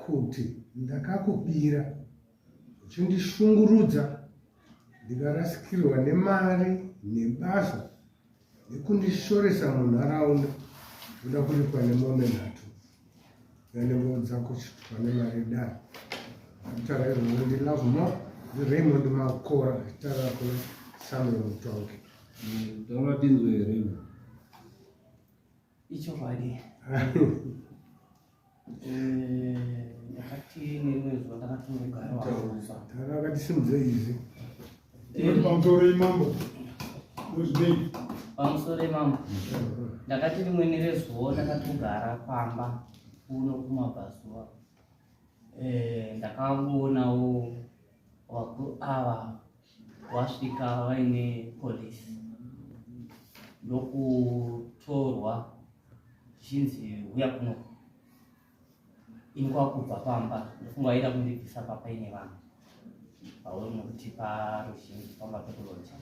kuti ndakakubira uchindishungurudza ndikarasikirwa nemari nebasa nekundishoresa munharaunda ndoda kuripwa nemombe nhatu yanengo dzako chitwa nemari dani akutara izvozvo ndilove more ndiraymond makora achitara kuna samuel mutongi mm, taura tinzwe here ichokwadi eh, ndakati nerimwe zuva ndakatongogara wamusa tara akati simudze izvi eh. pamusoro imambo uzbek pamusoro imambo ndakati rimwe nerezuvo ndakatogara pamba kuno kumabhazuva eh, ndakangoonawo vakuru ava Wasvika vaine police ndokutorwa zhinzi huya kuno ini kwakubva pamba ndofunga vaida kundibvisa papa ine vanhu pauri nokuti paruzhinji pamba pekuloja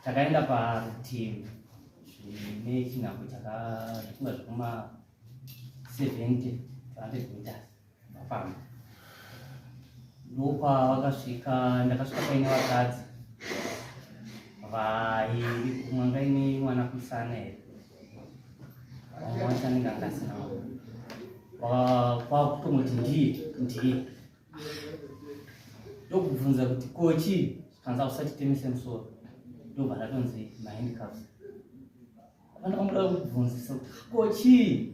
takaenda parutivi zvine chinhambo chakafunga zvekuma 70 200 meters Mafamba. Ndopa vakasvika ndakasvika paine vakadzi vairi kumwe ngaine mwana kusana here vamwe wacho anenge angasina kwakutomoti ndiye ndiye ndokubvunza kuti kochi kanza usatitemise musoro ndobva ndatonzi mahandicraft apana kwamuda kubvunzisa kuti kochii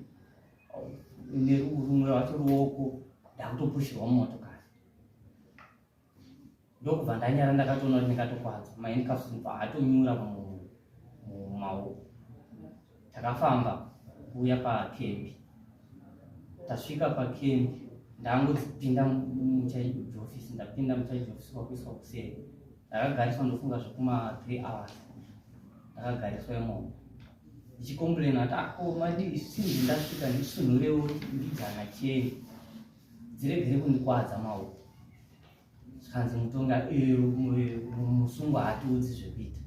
nerumwe rwacho ruoko ndakutopushirwa mumotokari ndokubva ndanyara ndakatoona kuti ndingatokwadzwa maendkafsmba atonyura mumaoko takafamba kuuya pakembi tasvika pakembi ndangodzipinda muchaiji office ndapinda muchaiji office kwakuiswa kuseri ndakagariswa ndofunga zvekuma three hours ndakagariswa imomo ndichicomplaina kuti ako ah, madii sinzi ndasvika ndisunhurewo ndidzana cheni dziregere kundikwadza maoko zvikanzi mutonga eh, musungwa hatiudzi zvekuita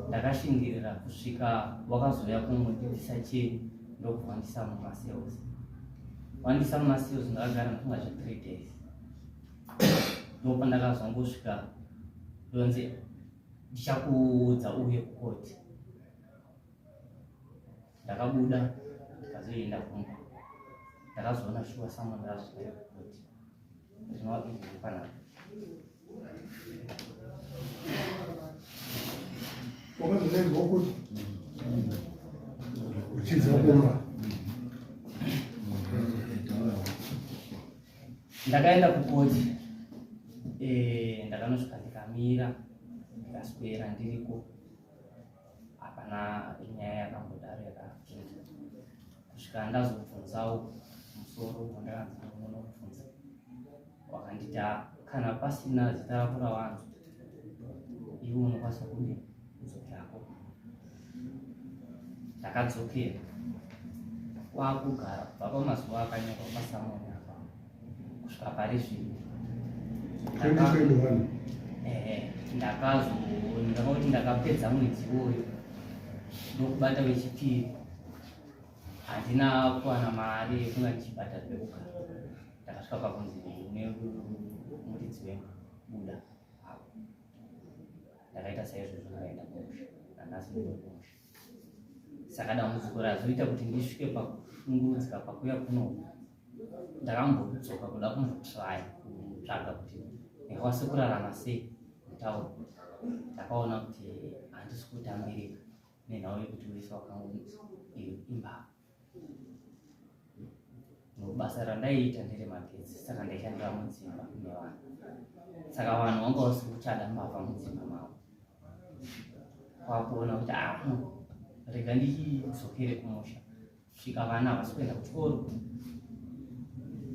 ndakashingirira kusvika wakazouya kungondibvisa cheni ndokuvandisa mumasales wandisa mumasales ndakagara ndifunga zve three days ndopandakazongosvika ndonzi ndichakuudza uye kukoti ndakabuda ndikazoenda kumba ndakazoona shuwa samwana razvitare kukoti zvinova izvi zvepanapa uchidza kumba ndakaenda kukoti eh, ndakanosvika ndikamira ndikaswera ndiriko hapana nyaya yakambodaro yakapinda kusvika ndazobvunzawo musoro wandakanzanonobvunza wakandita kana pasina zita rako rawanzo ivo unokwanisa kudini Dzokerako. Ndakadzokera. Kwakugara kubva pamazuva akanyorwa pasamoni apa kusvika pari zvino. Ndakazoonekauti ndakapedza mwedzi iwoyo ndokubata wechipiri handina kuwana mari yekunga ndichibhata zvekuka ndakasvika pakunzi nemuridzi wemba buda ndakaita saizvozvo ndakaenda kumusha nanhasi ndokumusha saka dambudziko razoita kuti ndisvike pakushungurudzika pakuya kuno ndakambodzoka kuda kumbotraya kutsvaga kuti ndikwanise kurarama sei mutauro ndakaona kuti handisi kutambirika nenhau yekuti wese wakango iyo imbavha basa randaiita nderemagetsi saka ndaishandira mudzimba nevanhu saka vanhu vanga vasi kuchada mbavha mudzimba mavo kwakuona kuti aa ah, rega ndichidzokere kumusha svika vana havasi kuenda kuchikoro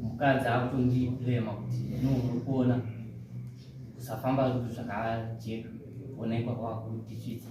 mukadzi akutondiblema kuti no uri kuona kusafamba zvakajeka onekwa kwakutisvitsa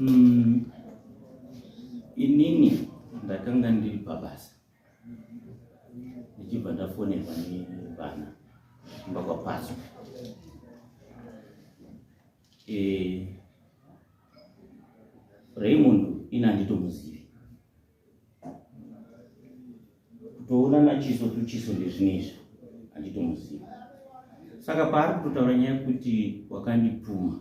Mm, inini ndakanga ndiri pabasa ndichibva ndafonerwa nevana kumba kwapaso e, eh, raymond ini handitomuzivi kutoona machiso tuchiso ndezvinezvi achitomuziva saka paari kutotaura nyaya yekuti wakandipuma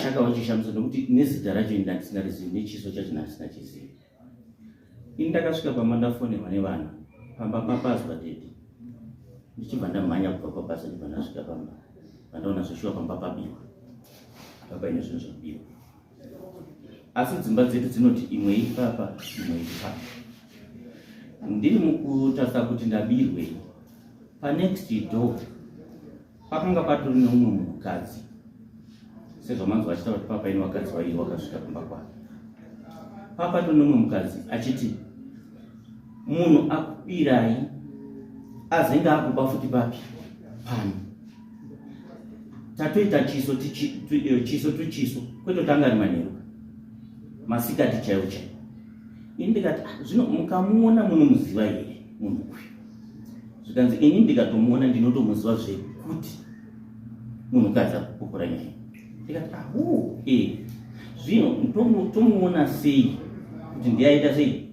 saka wachishamisa nokuti nezita racho ini ndandisingarizivi nechiso chacho ndandisingachizivi ini ndakasvika pamba ndafonerwa nevanhu pamba papazwa dedi ndichibva ndamhanya kubva pabasa ndibva ndasvika pamba vandaona zveshuwa pamba pabiwa papa ine zvinhu zvabiwa asi dzimba dzedu dzinoti imwe ipapa imwe ipapa ndiri mukutarisa kuti ndabirwei panext door pakanga patori neumwe munhukadzi sezvamanzi vachitaura kuti papa ini vakadzi vairi vakasvika kumba kwake papa to neumwe mukadzi achiti munhu akubirai azenge akuba futi papi pano tatoita chiso eh, chiso to chiso kweto tanga ari manheru masikati chaiwo chaiwo ini ndikati ah, zvino mukamuona munomuziva here munhu uyu zvikanzi ini ndikatomuona ndinotomuziva zvekuti munhukadzi akupokora nyaya ndikati ahu ah, e eh, zvino tomuona sei kuti ndiyaita sei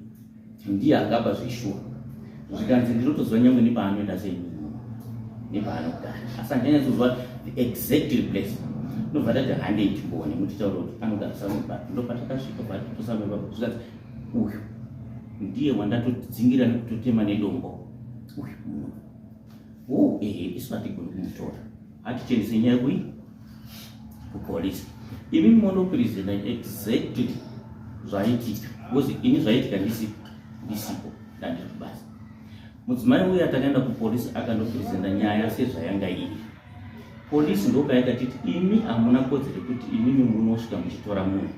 ndiye angaba zveshuwa zvikanzi ndinotoziva nyangwe nepaanoenda sei nepaanogara asi handinyanyazoziva the exact place ndobva tati hande ichimboone kuti taura kuti anogara samuba ndopatakasvika vatitosamuba zvikanzi uyu ndiye wandatodzingira nekutotema nedombo uyu munhu wo ehe isu hatigoni kumutora hatichenese nyaya kui kupolice imi monopresenta exactly zvaitika because ini zvaitika ndisipo ndisipo ndandiri kubasa mudzimai uya takaenda kupolice akandopresenta nyaya sezvayanga iri polisi ndopayakatiti imi hamuna kodzere kuti imimi munosvika muchitora munhu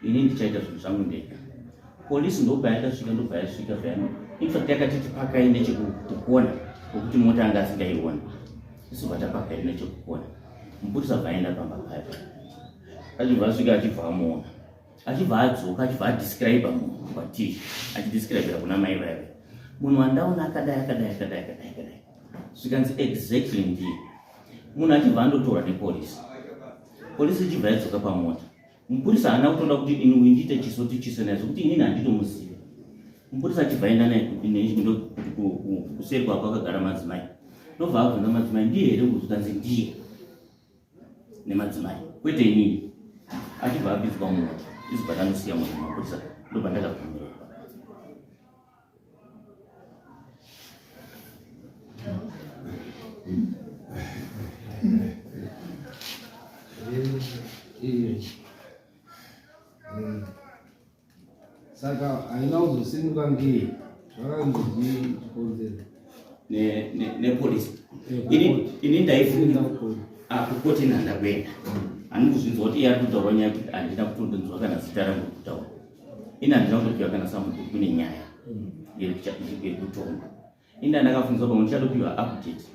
ini ndichaita zvinhu zvangu ndega polisi ndobva yakasvika ndobva yasvika zvayano infact yakatiti pakai nechekukona okuti mota anga asingaiona isu vatapakai nechekukona mupurisa bvaenda pamba paya achibva asvika achibva amuona achibva adzoka achibva adescribe munhu kwatii achidescribira kuna mai vaive munhu wandaona akadai akadai akadai akadai akadai zvikanzi exactly ndiye munhu achibva andotorwa nepolisi polisi ichibva yadzoka pamota Mupurisa haana kutoda kuti ini uyu ndiite chiso to chiso naye zvekuti inini handitomuzive. Mupurisa achibva aenda naye kuseri kwako akagara madzimai. Ndobva abvunza madzimai ndiye here kuzotanzi ndiye nemadzimai kwete inini. Achibva abidzwa munhu izobva tanosiya munhu mapurisa ndobva ndakabvumira. saka haina kuzosimuka ngei zvakanzi chikonzero nepolisi ini ndaifunga akukoti ah, nhandakuenda handikuzvinzwa kuti iye ari kutaura nyaya kuti handina kutondonzwa kana zita rangu kutaura ini handina kutopiwa kana samuti kune nyaya yekutonga ini ndandakafungiswa pamwe ndichatopiwa update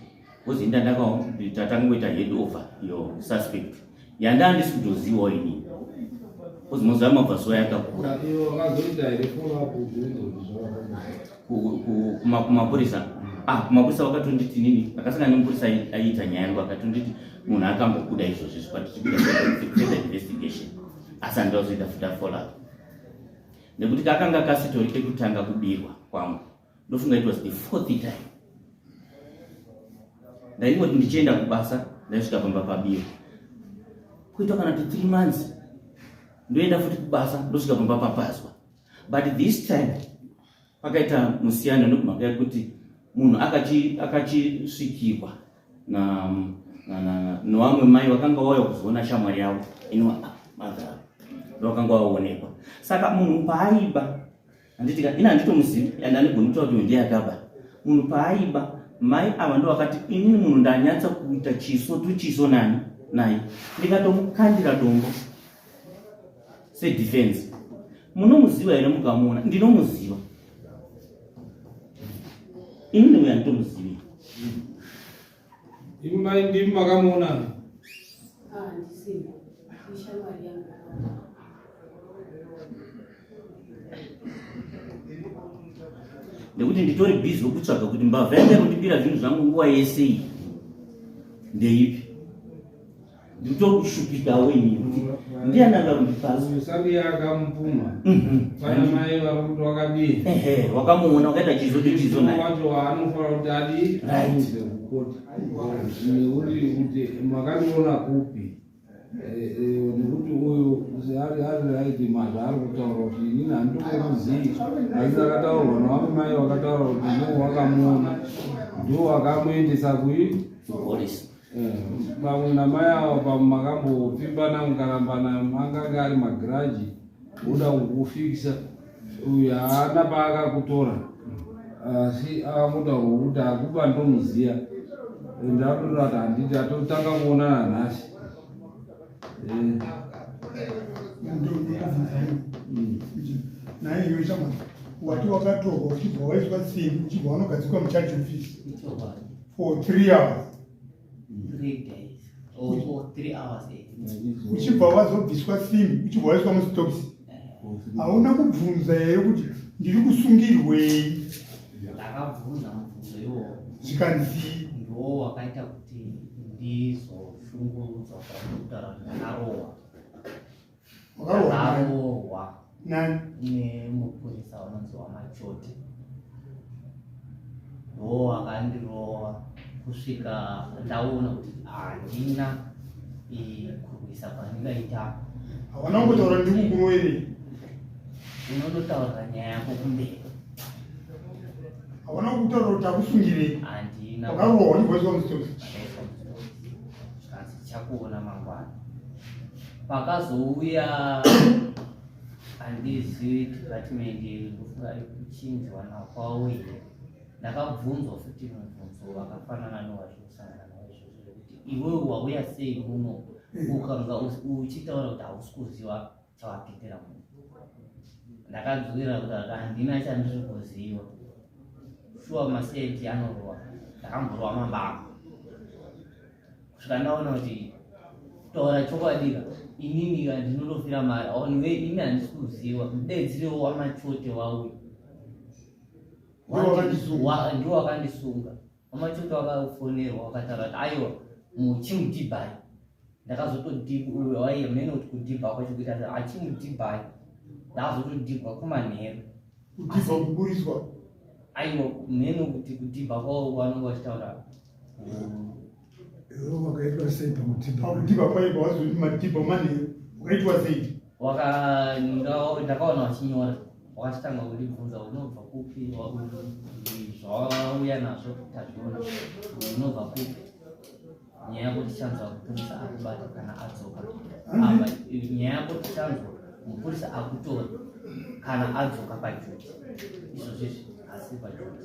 bcause ini ndandatangoita head over yo suspect yandaa ndisi kutozivawo inini bcause mazuva amabva zuva yakakura kumapurisa ah kumapurisa vakatonditi nini akasangana nemupurisa aiita nyaya yangu akatonditi munhu akambokuda izvozvi zvikwati chikuda investigation asi handida kuzoita futa follow nekuti kakanga kasitori kekutanga kubirwa kwangu ndofunga it was the fourth time ndaingoti ndichienda kubasa ndaisvika pamba pabirwa kuita kana to three months ndoenda futi kubasa ndosvika pamba papazwa but this time Pakaita musiyano nekumhaka yekuti munhu akachisvikirwa nevamwe mai vakanga vauya kuzoona shamwari yavo iniwa madhara ndovakanga vaonekwa saka munhu paaiba handiti ini handitomuzivi and anigoni kutaura kuti ndiye akaba munhu paaiba mai ava ndo vakati inini munhu ndanyatsa kuita chiso tuchiso nani naye ndikatomukandira dombo sedefense munomuziva here mukamuona ndinomuziva ini ndiuya nditomuzivi imai ndimi makamuona ah, nekuti nditori bhizi wekutsvaga kuti mbavha yanga inondibira zvinhu zvangu nguva yese iyi ndeipi nditokushupikawo ini kuti ndiani anga kundipasaakamupuma mhm. pana mai vari kuti wakadii wakamuona wakaita chizo ndi chizo wacho waanofanira kuti adii aite kukota nekuti kuti makandiona kupi eh, eh, nekuti uyu ari aiti mazva ari kutaura kuti inini handitokuzivi asi akataurwa navamwe mai wakataura kuti ndiwo wakamuona ndiwo wakamuendesa kui kupolisi Pamwe namai ava pamwe makambopfimbana mukarambana angange ari magiraji uda kukufikisa uyu haana paakakutora asi akangotaura kuti akuba ndomuziya ende atotora kuti handiti atotanga kuonana nhasi naiyo shamwari wati wakatorwa uchibva waiswa simbi uchibva wanogadzikwa muchaji ofisi for three hours uchibva vazobviswa sim uchibva waiswa mustops hauna kubvunza here kuti ndiri kusungirwei zvikanzi ndo wakaita kuti ndizoshungurudzwa kwakutarandakarowa akarohwa nemupurisa unonzi wamachote ndo akandirowa kusvika ndaona kuti handina kurwisa kwandingaita hawana kungotaura ndikukuroere unototaurira nyaya yako kumberi hawana kutaura kuti akusungirei handina wakarohwa ndivoiwa mustosi tichakuona mangwana pakazouya handizivi department ndofunga kuchinjwa nakwawo here ndakabvunzwa futi mubvunzo wakafanana nowazvikusangana nawo izvozvo zvekuti iwewe wauya sei muno ukanga uchiitaura kuti hausi kuziva tsawatetera munhu ndakadzwira kuti aka handina chandiri kuziva shuwa maseti anorova ndakamborova mambama kusvika ndaona kuti taura chokwadika inini ka ndinotofira mari aoniwe ini handisi kuziva mudedziriwo wamachote wauyo ndiwo wakandisunga Wamachoto wakafonerwa wakataura kuti aiwa muchimudhibai ndakazotodhibwa waiye mene kuti kudhibha kwacho kuita kuti achimudhibai ndakazotodhibwa kumanheru kudhibha kuburiswa aiwa mene kuti kudhibha kwavo vanonga vachitaura wakaitwa sei pamudhibha pamudhibha paiva wazoti madhibha manheru ukaitwa sei ndakaona vachinyora wakatanga kundibvunza unobva kupi zvawauya nazvo tazviona unobva kupi nyaya yako tichanzwa mupurisa akubata kana adzoka apa nyaya yako tichanzwa mupurisa akutora kana adzoka pajuti izvozvizvi asi pajuti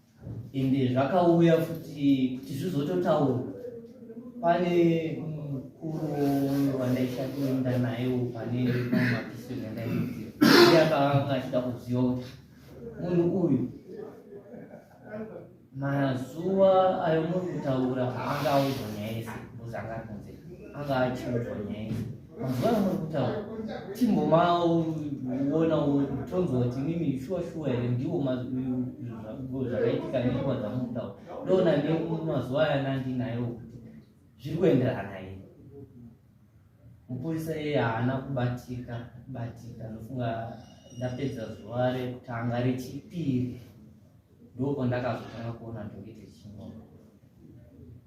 ende zvakauya futi kuti zvizototaura pane mukuru wandaishatoenda naye pane mapisiro yandaiti iye akanga achida kuziva kuti munhu uyu mazuva ayo muri kutaura haanga audzwa nyaya yese muzanga kunze anga achiudzwa nyaya yese mazuva ano muri kutaura timbomawona tonzwa kuti mimi shuwa shuwa here ndiwo zvakaitika nenguva dzamutaura ndoona nemazuva aya nandinayo kuti zviri kuenderana here mupurisa iye haana kubatika kubatika ndofunga ndapedza zuva rekutanga rechipiri ndoko ndakazotanga kuona ndokite chimwe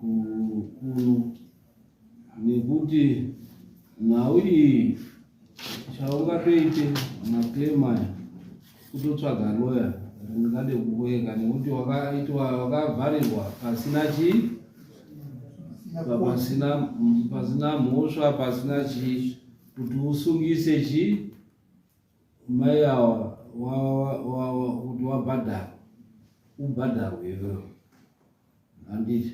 kuno nekuti nhau iyi chaungatoite maclaim aya kutotsvaga loya ringade kuweka nekuti wakaitwa wakavharirwa pasina chii pasina pasina mhosva pasina chii kuti usungise chii Mai awa kuti wabhadhara ubhadharwe iwewo handiti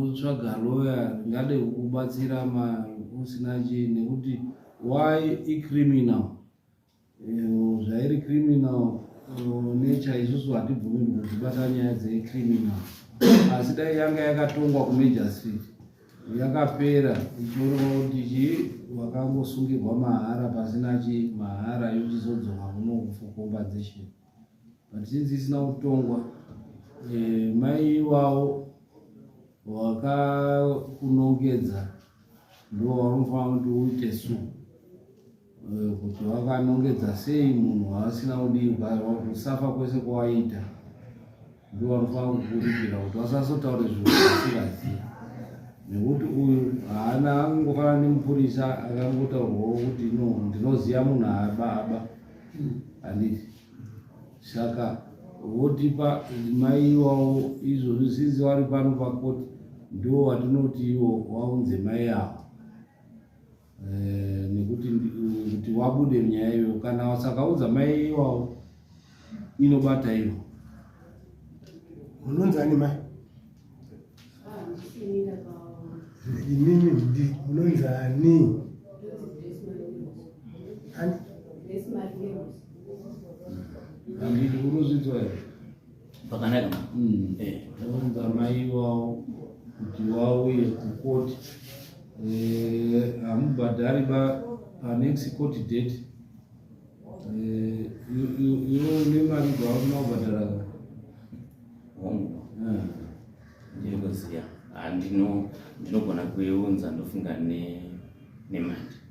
utsvaga loya ringade kukubatsira ma usina chii nekuti why icriminal zvairi criminal nature isusu hatibvumi kuzvibata nyaya dzecriminal asi dai yanga yakatongwa kumajor street yakapera ichionekwa kuti chi wakangosungirwa mahara pasina chi mahara yochizodzoka kuno for compensation but since isina kutongwa eh, mai iwawo wakakunongedza ndo waunofanira kuti uite suu Eh, kuti wakanongedza sei munhu waasina kudiwa kusafa kwese kwawaita ndiwanofanira kukuripira kuti wasasotaure zvinhu zvasingaziva nekuti uyu haana angofana nemupurisa akangotaurwawo kuti no ndinoziva munhu aaba aba handiti saka votipa mai iwawo izvozvi sinzi wari pano pakoti ndiwo watinoti iwo waunze mai avo eh, nekuti kuti wabude nyaya iyo kana wasakaudza mai iwawo inobata iyo unonzi ani mai inini ndi unonzi ani anditi unozvinzwa here Pakanaka ma. Mm. Eh. Taunza mai wao kuti wauye kucourt eh, hamubhadhari eh, ba panext court date eh, iwo une mari dzawauna kubhadhara hongu eh. ndinoziva ah, ndinogona kuiunza ndofunga nemandi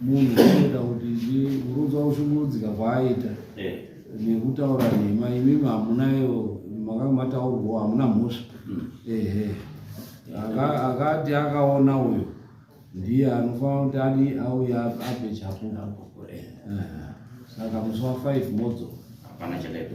munhu unoita kuti ndiurudza kushungurudzika kwaaita eh. nekutaura nhema imimi hamunayo makanga mataurwawo hamuna mhosva hmm. ehe akati akaona uyo ndiye anofanira kuti adi auya ape chapupu eh. saka musi wa five modzo hapana chadaipo